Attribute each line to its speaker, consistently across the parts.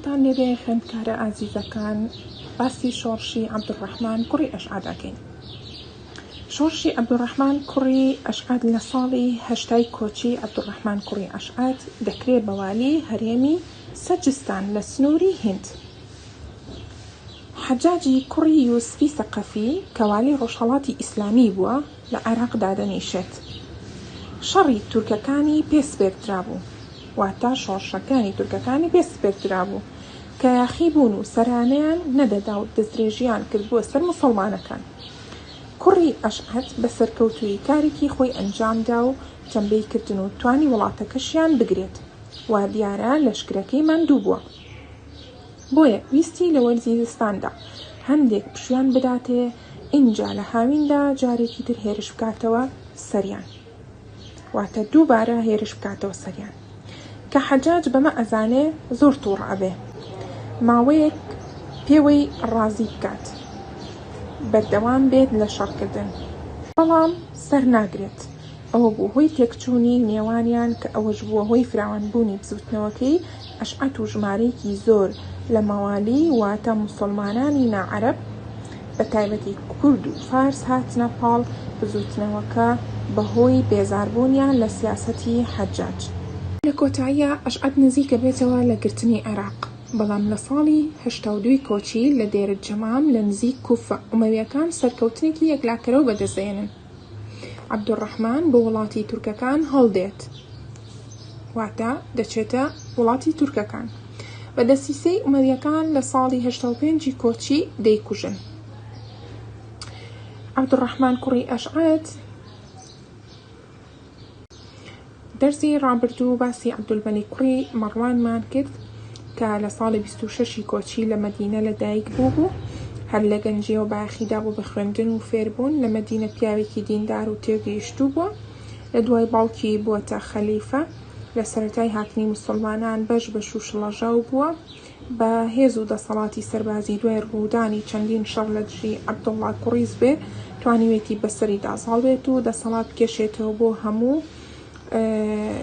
Speaker 1: تان لێبێ خوێندکارە ئازیزەکان باسی شۆڕشی عەبدوڕەحمان کوڕی ئەشعادەکەین شۆڕشی عەبدوڕەحمان کوڕی ئەشعاد لە ساڵی هەشتای کۆچی عەبدوڕەحمان کوڕی ئەشعاد دەکرێ بەوالی هەرێمی سەجستان لە سنووری هند حەجاجی کوڕی یوسفی سەقەفی کەوالی ڕۆژهەڵاتی ئیسلامی بووە لە عێراق دادەنیشێت. شەڕی تورکەکانی پێ سپێردرابوو، واتە شۆڕشەکانی تورکەکانی پێ سپێردرابوو کە یاخی بوون و سەرانەیان نەدەدا و دەستدرێژییان کردبووە سەر موسڵمانەکان. کوڕی ئەشعەت بە سەرکەوتوویی کارێکی خۆی ئەنجام دا و تەمبێی کردن و توانی وڵاتەکەشیان بگرێت. وا دیارە لەشکرەکەی ماندوو بووە. بۆیە ویستی لە وەرزی زستاندا هەندێک پشویان بداتێ ئینجا لە هاویندا جارێکی تر هێرش بکاتەوە سەریان واتە دووبارە هێرش بکاتەوە سەریان کە حەجاج بەمە ئەزانێ زۆر تووڕ ئەبێ ماوەیەک پێوەی ڕازی بکات بەردەوام بێت لە شەڕکردن بەڵام سەر ناگرێت ئەوە بوو هۆی تێکچوونی نێوانیان کە ئەوەش بووە هۆی فراوانبوونی بزوتنەوەکەی ئەشعەت و ژمارەیەکی زۆر لە مەوالی واتە موسڵمانانی ناعەرەب بەتایبەتی کورد و فارس هاتنە پاڵ بزووتنەوەکە بەهۆی بێزاربوونیان لە سیاسەتی حەجاج. لە کۆتاییا ئەشعەت نزیکە بێتەوە لە گرتنی عێراق، بەڵام لە ساڵی هەشتا و دوو کۆچی لە دێرەجەمام لە نزیک کوفە، ئومەوییەکان سەرکەوتنێکی یەکلاکەرەوە بەدەست دەهێنن. عەبدولڕەحمان بۆ وڵاتی تورکەکان هەڵدێت واتە دەچێتە وڵاتی تورکەکان بە دەسیسەی ئومەویەکان لە ساڵی هەشتا و پێنجی کۆچی دەیکوژن عەبدولڕەحمان کوڕی ئەشعەت دەرزی ڕابردوو باسی عەبدولمەلیک کوڕی مەڕوانمان کرد کە لە ساڵی بیست و شەشی کۆچی لە مەدینە لە دایک بوو بوو هەر لە گەنجیەوە بایەخیدا بوو بە خوێندن و فێربوون لە مەدینە پیاوێکی دیندار و تێگەیشتوو بووە لە دوای باوکی بووەتە خەلیفە لە سەرەتای هاتنی موسڵمانان بەش بەش و شڵەژاو بووە بە هێز و دەسەڵاتی سەربازی دوای ڕوودانی چەندین شەڕ لە دژی عەبدوڵڵا کوڕیزبێ توانیوێتی بەسەریدا زاڵ بێت و دەسەڵات بکێشێتەوە بۆ هەموو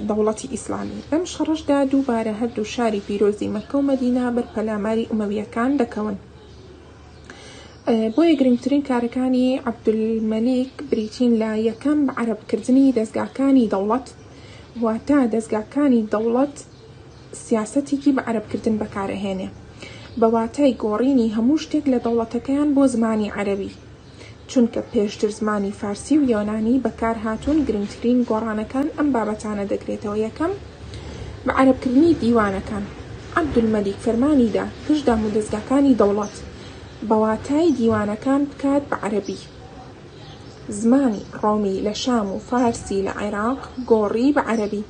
Speaker 1: دەوڵەتی ئیسلامی لەم شەڕشدا دووبارە هەردوو شاری پیرۆزی مەکە و مەدینا بەر پەلاماری ئومەویەکان دەکەون بۆیە گرنگترین کارەکانی عەبدولمەلیک بریتین لە یەکەم بە عەرەبکردنی دەستگاکانی دەوڵەت واتە دەستگاکانی دەوڵەت سیاسەتێکی بە عەرەبکردن بەکارئەهێنێ بە واتای گۆڕینی هەموو شتێک لە دەوڵەتەکەیان بۆ زمانی عەرەبی، چونکە پێشتر زمانی فارسی و یۆنانی بەکارهاتوون، گرنگترین گۆڕانەکان ئەم بابەتانە دەگرێتەوە، یەکەم، بە عەرەبکردنی دیوانەکان، عەبدولمەلیک فەرمانی دا گشت دامودەزگاکانی دەوڵەت بە واتای دیوانەکان بکات بە عەرەبی، زمانی ڕۆمی لە شام و فارسی لە عێراق گۆڕی بە عەرەبی،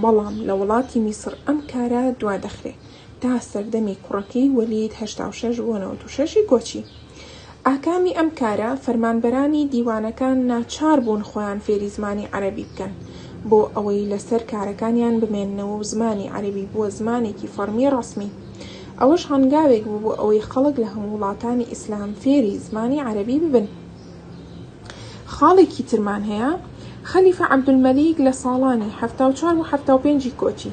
Speaker 1: بەڵام لە وڵاتی میسڕ ئەم کارە دوا دەخرێ تا سەردەمی کوڕەکەی وەلید هەشتا و شەش بۆ نەوەد و شەش ی کۆچی. ئاکامی ئەم کارە فەرمانبەرانی دیوانەکان ناچار بوون خۆیان فێری زمانی عەرەبی بکەن بۆ ئەوەی لە سەر کارەکانیان بمێننەوە و زمانی عەرەبی بووە زمانێکی فەڕمی ڕەسمی. ئەوەش هەنگاوێک بوو بۆ ئەوەی خەڵک لە هەموو وڵاتانی ئیسلام فێری زمانی عەرەبی ببن. خاڵێکی ترمان هەیە، خەلیفە عەبدولمەلیک لە ساڵانی حەفتا و چوار بۆ حەفتا و پێنج ی کۆچی،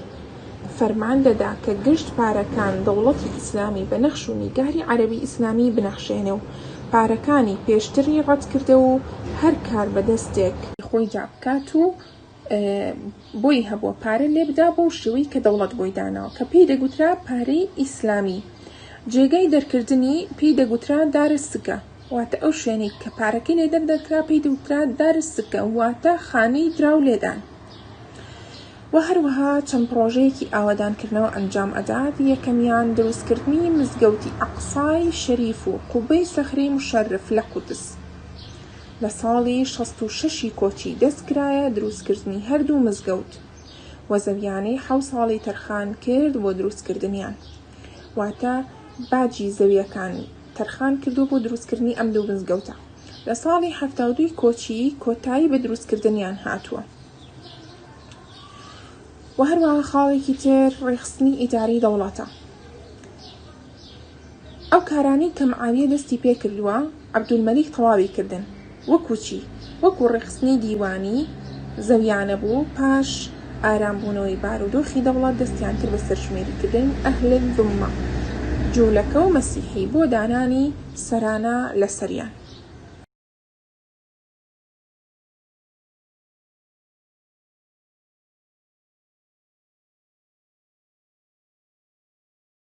Speaker 1: فەرمان دەدا کە گشت پارەکان دەوڵەتی ئیسلامی بە نەخش و نیگاری عەرەبی ئیسلامی بنەخشێنێ و پارەکانی پێشتری ڕەتکردەوە و هەر کاربەدەستێک خۆیدا بکات و بۆی هەبووە پارە لێ بدا بۆ شێوەی کە دەوڵەت بۆی داناوە کە پێی دەگوترا پارەی ئیسلامی جێگای دەرکردنی پێی دەگوترا دارە سکە واتە ئەو شوێنی کە پارەکەی لێ دەردەکرا پێی دەوترا دارە سکە واتە خانەی دراو لێدان و هەروەها چەند پرۆژەیەکی ئاوادانکردنەوە ئەنجام ئەدات یەکەمیان دروستکردنی مزگەوتی ئەقسای شەریف و قوبەی سەخرەی مشەرف لە قودس لە ساڵی شەست و شەش ی کۆچی دەست کرایە دروست کردنی هەردوو مزگەوت و زەویانەی حەو ساڵی تەرخان کرد بۆ دروست کردنیان واتە باجی زەویەکان تەرخان کردو بۆ دروست کردنی ئەم دوو مزگەوتە لە ساڵی حەفتا و دوو ی کۆچی کۆتایی بە دروست کردنیان هاتووە و هەروەها خاڵێکی تر ڕێکخستنی ئیداری دەوڵەتە. ئەو کارانەی کە معاویە دەستی پێ کردووە، عەبدولمەلیک تەواوی کردن. وەکوو چی؟ وەکوو ڕێکخستنی دیوانی زەویانە بوو، پاش ئارام بوونەوەی بارودۆخی دەوڵەت، دەستیان کرد بە سەرژمێری کردنی ئەهل زوممە، جوولەکە و مەسیحی، بۆ دانانی سەرانە لە سەریان.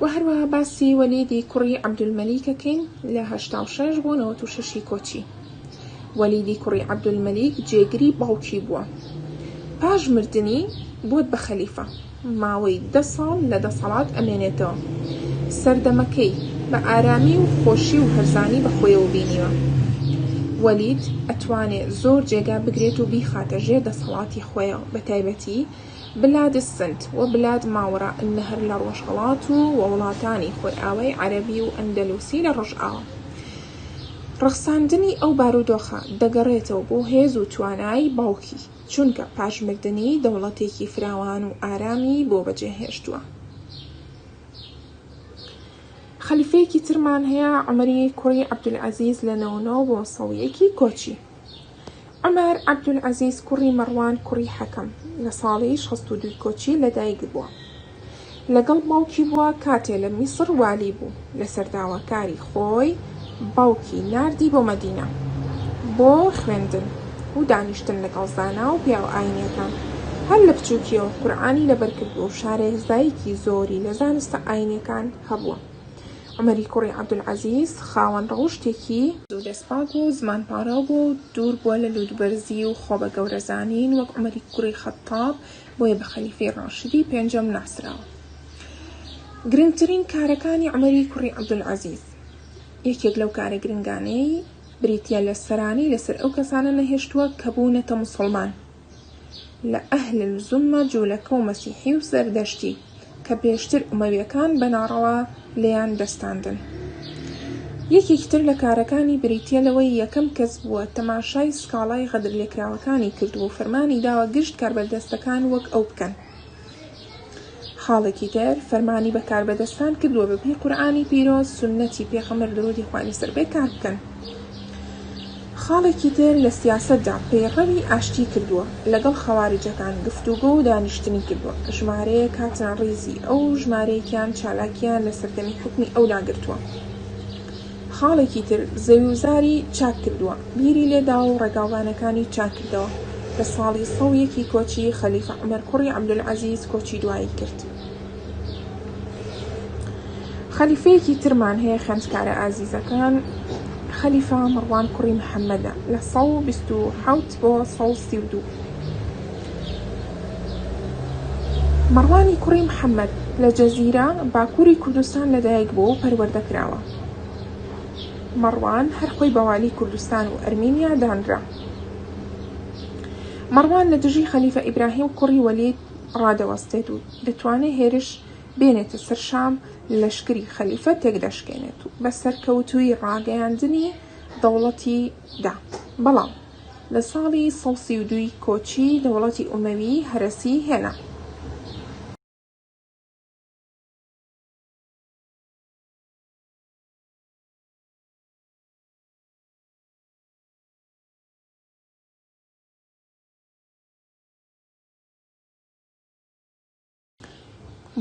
Speaker 1: و هەروەها باسی وەلیدی کوڕی عەبدولمەلیکەکەین لە هەشتا و شەش بۆ نەوەت و شەشی کۆچی وەلیدی کوڕی عەبدولمەلیک جێگری باوکی بووە پاش مردنی بۆت بە خەلیفە ماوەی دە ساڵ لە دەسەڵات ئەمێنێتەوە سەردەمەکەی بە ئارامی و خۆشی و هەرزانی بە خۆیەوە بینیوە وەلید ئەتوانێ زۆر جێگا بگرێت و بیخاتە ژێر دەسەڵاتی خۆیەوە بە تایبەتی بلاد السند و بلاد ماوراء النهر لە ڕۆژهەڵات و و وڵاتانی خۆرئاوای عەرەبی و ئەندەلوسی لە ڕۆژئاوا. ڕەخساندنی ئەو بارودۆخە دەگەڕێتەوە بۆ هێز و توانای باوکی، چونکە پاش مردنی دەوڵەتێکی فراوان و ئارامی بۆ بەجێهێشتووە. خەلیفەیەکی ترمان هەیە، عومەری کوڕی عەبدولعەزیز لە نەوەنۆ بۆ سەویەکی کۆچی. عومەر عەبدولعەزیز کوڕی مەڕوان کوڕی حەکەم لە ساڵی شەست و دوو کۆچی لە دایک بووە. لەگەڵ باوکی بووە کاتێ لە میسڕ والی بوو، لەسەر داواکاری خۆی باوکی ناردی بۆ مەدینە بۆ خوێندن و دانیشتن لەگەڵ زانا و پیاوە ئاینیەکان. هەر لە بچووکیەوە قورعانی لەبەر کردووە و شارێزایەکی زۆری لە زانستە ئاینیەکان هەبووە. عومەری کوڕی عەبدولعەزیز خاوەن ڕەوشتێکی دەستپاک و زمانپاراو بووە و دوور بووە لە لووتبەرزی و خۆبەگەورەزانین وەک عومەری کوڕی خەتتاب، بۆیە بە خەلیفەی ڕاشدی پێنجەم ناسراوە. گرنگترین کارەکانی عومەری کوڕی عەبدولعەزیز، یەکێک لەو کارە گرنگانەی بریتییە لە سەرانی لەسەر ئەو کەسانە نەهێشتووە کە بوونەتە موسڵمان، لە ئەهل الزمە جولەکە و مەسیحی و زەردەشتی کە پێشتر ئومەویەکان بە ناڕەوا لێیان دەستاندن. یەکێکی تر لە کارەکانی بریتیە لەوەی یەکەم کەس بووە تەماشای سکاڵای غەدرلێکراوەکانی کردووە و فەرمانی داوە گشت کاربەردەستەکان وەک ئەو بکەن. خاڵێکی تر، فەرمانی بە کاربەدەستان کردووە بە پێی قورئانی پیرۆز، سوننەتی پێغەمبەر درودی خوای لەسەر بێت کار بکەن. خاڵێکی تر لە سیاسەتدا پەیڕەوی ئاشتی کردووە، لەگەڵ خەواریجەکان گفتوگۆ و دانیشتنی کردووە، ژمارەیەک هاتنە ڕیزی ئەو و ژمارەیەکیان چالاکییان لە سەردەمی حوکمی ئەودا گرتووە. خاڵێکی تر زەوی و زاری چاک کردووە، بیری لێ داوە و ڕێگاوبانەکانی چاک کردەوە، لە ساڵی سەد و یەک ی کۆچی خەلیفە عومەر کوڕی عەبدولعەزیز کۆچی دوایی کرد. خەلیفەیەکی ترمان هەیە خوێندکارە ئازیزەکان، خەلیفە مەڕوان کوڕی محەمەدە لە سەد و بیست و حەوت بۆ سەد و سی و دوو. مەڕوانی کوڕی محەممەد لە جەزیرە باکووری کوردستان لەدایک بووە و پەروەردە کراوە. مەڕوان هەر خۆی بە والی کوردستان و ئەرمینیا دانرا. مەڕوان لە دژی خەلیفە ئیبراهیم کوڕی وەلید ڕادەوەستێت و دەتوانێت هێرش بێنێتە سەر شام لەشکری خەلیفە تێکدەشکێنێت و بە سەرکەوتووی ڕاگەیاندنی دەوڵەتی دا بەڵام لە ساڵی سەد سی و دوو ی کۆچی دەوڵەتی ئومەوی هەرەسی هێنا.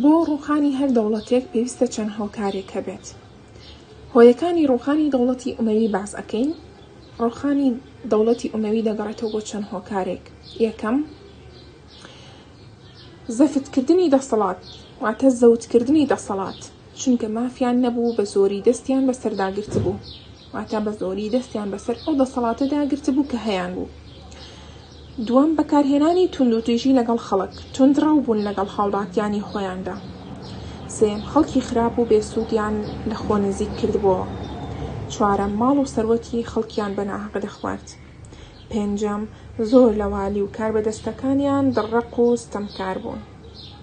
Speaker 1: بۆ ڕووخانی هەر دەوڵەتێک پێویستە چەند هۆکارێک هەبێت هۆیەکانی ڕووخانی دەوڵەتی ئومەوی باس ئەەکەین ڕووخانی دەوڵەتی ئومەوی دەگەڕێتەوە بۆ چەند هۆکارێک یەکەم زەفتکردنی دەسەڵات واتە زەوتکردنی دەسەڵات چونکە مافیان نەبوو بە زۆری دەستیان بە سەرداگرت بوو واتە بە زۆری دەستیان بەسەر ئەو دەسەڵاتە داگرت بوو کە هەیان بوو دووەم، بەکارهێنانی توندوتیژی لەگەڵ خەڵک، توندڕەو بوون لەگەڵ هاوڵاتیانی خۆیاندا. سێیەم، خەڵکی خراپ و بێ سوودیان لە خۆ نزیک کردبۆوە. چوارەم، ماڵ و سەروەتی خەڵکیان بە ناهەق دەخوارد. پێنجەم، زۆر لە والی و کاربەدەستەکانیان دڕەق و ستەمکار بوون.